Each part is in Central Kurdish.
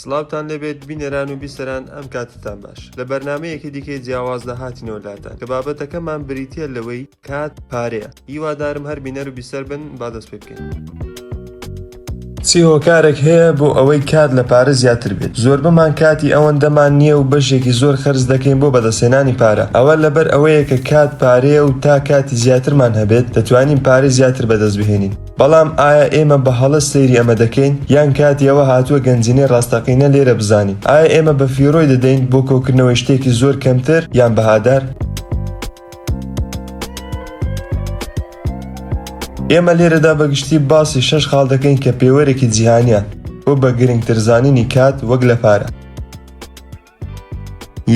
سڵاوتان لێبێت بینەران و بیسەران ئەم کاتتان باش لە بەرنمەیەکی دیکەی جیاوازدا هاتینەوە لاتان کە بابەتەکەمان بریتە لەوەی کات پارەیە هیوادارم هەر بینەر و بیسەر بن با دەست پێ بکەین. چی هۆکارێک هەیە بۆ ئەوەی کات لە پارە زیاتر بێت؟ زۆربەمان کاتی ئەوەندەمان نییە و بەشێکی زۆر خەرج دەکەین بۆ بەدەستهێنانی پارە. ئەوە لەبەر ئەوەیە کە کات پارەیە و تا کاتی زیاترمان هەبێت، دەتوانین پارەی زیاتر بەدەست بهێنین. بەڵام ئایا ئێمە بە هەڵە سەیری ئەمە دەکەین؟ یان کاتی ئەوە هاتووە گەنجینەی ڕاستەقینە لێرە بزانین؟ ئایا ئێمە بەفیڕۆی دەدەین بۆ کۆکردنەوەی شتێکی زۆر کەمتر یان بەهادار؟ ئێمە لێرەدا بەگشتی باسی شەش خاڵ دەکەین کە پێوەرێکی جیهانیە بۆ بە گرنگتر زانینی کات وەک لە پارە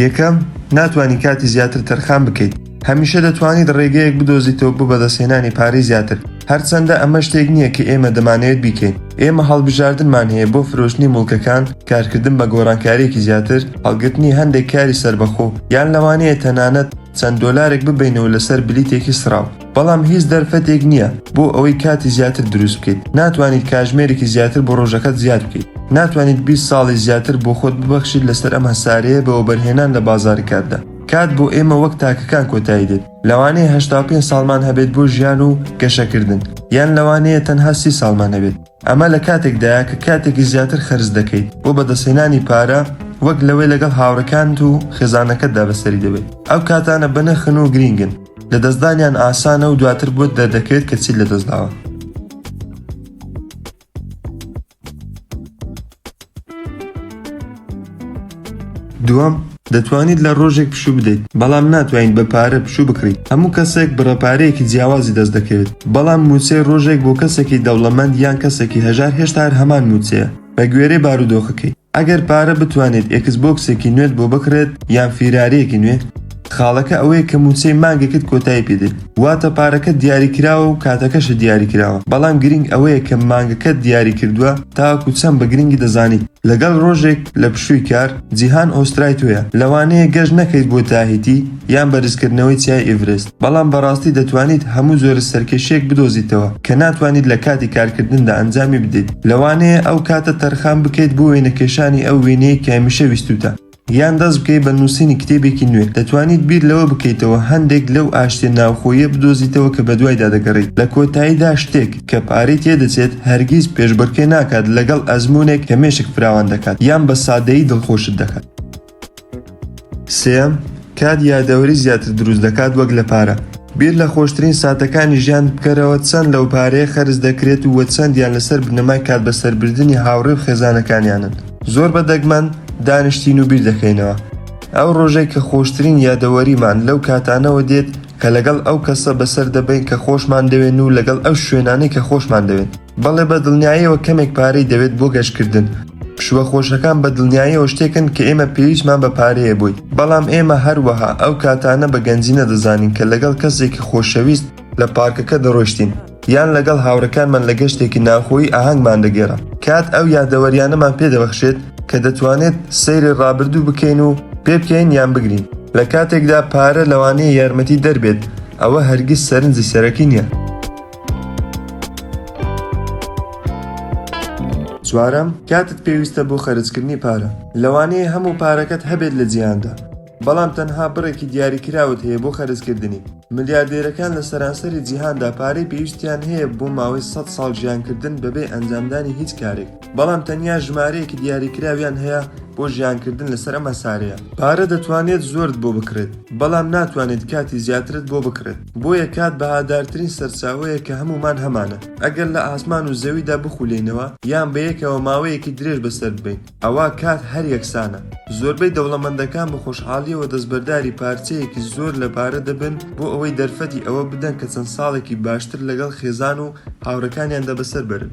یەکەم ناتوانانی کاتی زیاتر تەرخان بکەیت هەمیشە دەتوانیت ڕێگەیەک بدۆزیتەوە بۆ بەدەستهێنانی پارەی زیاتر هەرچەندە ئەمە شتێک نییە کە ئێمە دەمانەوێت بیکەین ئێمە هەڵبژاردنمان هەیە بۆ فرۆشتنی مڵکەکان کارکردن بە گۆڕانکارێکی زیاتر هەڵگرتنی هەندێک کاری سربەخۆ یان لەوانەیە تەنانەت چەند دۆلارێک ببینەوە لەسەر بلیتێکی سراو بەڵام هیچ دەرفەتێک نییە بۆ ئەوەی کاتی زیاتر دروست بکەیت ناتوانیت کاژمێرێکی زیاتر بۆ ڕۆژەکەت زیاد بکەیت ناتوانیت 20 ساڵی زیاتر بۆ خۆت ببەخشیت لەسەر ئەم هەسارەیە بەوەبەرهێنان لە بازارکاتدا کات بۆ ئێمە وەک تاکەکان کۆتایی دێت لەوانەیە هەشتا و پێنج ساڵمان هەبێت بۆ ژیان و گەشەکردن یان لەوانەیە تەنها سی ساڵمان هەبێت ئەمە لە کاتێکدایە کە کاتێکی زیاتر خەرج دەکەیت بۆ بەدەستهێنانی پارە وەک لەوەی لەگەڵ هاوڕەکانت و خێزانەکەتدا بەسەری دەبێت ئەو کاتانە بەنرخن و گرینگن لە دەستدانیان ئاسانە و دواتر بۆت دەردەکەوێت کە چیت لە دەستداوە دووەم، دەتوانیت لە ڕۆژێک پشوو بدەیت، بەڵام ناتوانیت بە پارە پشوو بکڕیت، هەموو کەسێک بڕە پارەیەکی جیاوازی دەست دەکەوێت، بەڵام مووچەی ڕۆژێک بۆ کەسێکی دەوڵەمەند یان کەسێکی هەژار هێشتا هەر هەمان مووچەیە، بە گوێرەی بارودۆخەکەی. ئەگەر پارە بتوانێت ئێکس بۆکسێکی نوێت بۆ بکڕێت یان فیراریەکی نوێ خاڵەکە ئەوەیە کە مووچەی مانگێکت کۆتایی پێدێت واتە پارەکەت دیاری کراوە و کاتەکەشت دیاری کراوە بەڵام گرینگ ئەوەیە کە مانگەکەت دیاری کردووە تاوەکو چەند بە گرینگی دەزانیت لەگەڵ ڕۆژێک لە پشووی کار جیهان ئۆسترای تۆیە لەوانەیە گەشت نەکەیت بۆ تاهیتی یان بەرزکردنەوەی چیای ئیڤرست، بەڵام بەڕاستی دەتوانیت هەموو جۆرە سەرکێشییەک بدۆزیتەوە کە ناتوانیت لە کاتی کارکردندا ئەنجامی بدەیت، لەوانەیە ئەو کاتە تەرخان بکەیت بۆ وێنەکێشانی ئەو وێنەیەی کە هەمیشە ویستووتە، یان دەست بکەیت بە نووسینی کتێبێکی نوێ، دەتوانیت بیر لەوە بکەیتەوە هەندێک لەو ئاشتییە ناوخۆییە بدۆزیتەوە کە بەدوایدا دەگەڕێیت، لە کۆتاییدا شتێک کە پارەی تێدەچێت هەرگیز پێشبڕکێ ناکات لەگەڵ ئەزموونێک کە مێشک فراوان دەکات یان بە سادەیی دڵخۆشت دەکات. سێیەم، کات یادەوەری زیاتر دروست دەکات وەک لە پارە. بیر لە خۆشترین ساتەکانی ژیانت بکەرەوە، چەند لەو پارەیە خەرج دەکرێت و چەندیان لەسەر بنەمای کات بەسەربردنی هاوڕێ و خێزانەکانیانن. زۆر بە دەگمەن دانیشتین و بیر دەکەینەوە ئەو ڕۆژەی کە خۆشترین یادەوەریمان لەو کاتانەوە دێت کە لەگەڵ ئەو کەسە بەسەر دەبەین کە خۆشمان دەوێن و لەگەڵ ئەو شوێنانەی کە خۆشمان دەوێن. بەڵێ بە دڵنیایەوە کەمێک پارەی دەوێت بۆ گەشتکردن. پشووە خۆشەکان بە دڵنیایەوە شتێکن کە ئێمە پێویستمان بە پارەیە بۆی، بەڵام ئێمە هەروەها ئەو کاتانە بە گەنجی نەدەزانین کە لەگەڵ کەسێکی خۆشەویست لە پارکەکە دەڕۆیشتین یان لەگەڵ هاوڕێکانمان لە گەشتێکی ناوخۆیی ئاهەنگمان دەگێڕا. کات ئەو یادەوەرییانەمان پێ دەبەخشێت کە دەتوانێت سەیری ڕابردوو بکەین و پێبکەین یان بگرین. لە کاتێکدا پارە لەوانەیە یارمەتیدەر بێت، ئەوە هەرگیز سەرنجی سەرەکی نییە. چوارەم، کاتت پێویستە بۆ خەرجکردنی پارە. لەوانەیە هەموو پارەکەت هەبێت لە جیهاندا، بەڵام تەنها بڕێکی دیاریکراوت هەیە بۆ خەرجکردنی. ملیاردێرەکان لە سەرانسەری جیهاندا پارەی پێویستیان هەیە بۆ ماوەی سەد ساڵ ژیانکردن بەبێ ئەنجامدانی هیچ کارێک. بەڵام تەنیا ژمارەیەکی دیاریکراویان هەیە بۆ ژیانکردن لەسەر ئەم هەسارەیە پارە دەتوانێت زۆرت بۆ بکڕێت بەڵام ناتوانێت کاتی زیاترت بۆ بکڕێت بۆیە کات بەهادارترین سەرچاوەیە کە هەموومان هەمانە ئەگەر لە ئاسمان و زەویدا بخولێینەوە یان بەیەکەوە ماوەیەکی درێژ بەسەر ببەین ئەوا کات هەر یەکسانە زۆربەی دەوڵەمەندەکان بە خۆشحاڵیەوە دەستبەرداری پارچەیەکی زۆر لە پارە دەبن بۆ ئەوەی دەرفەتی ئەوە بدەن کە چەند ساڵێکی باشتر لەگەڵ خێزان و هاوڕەکانیاندا بەسەر بەرن.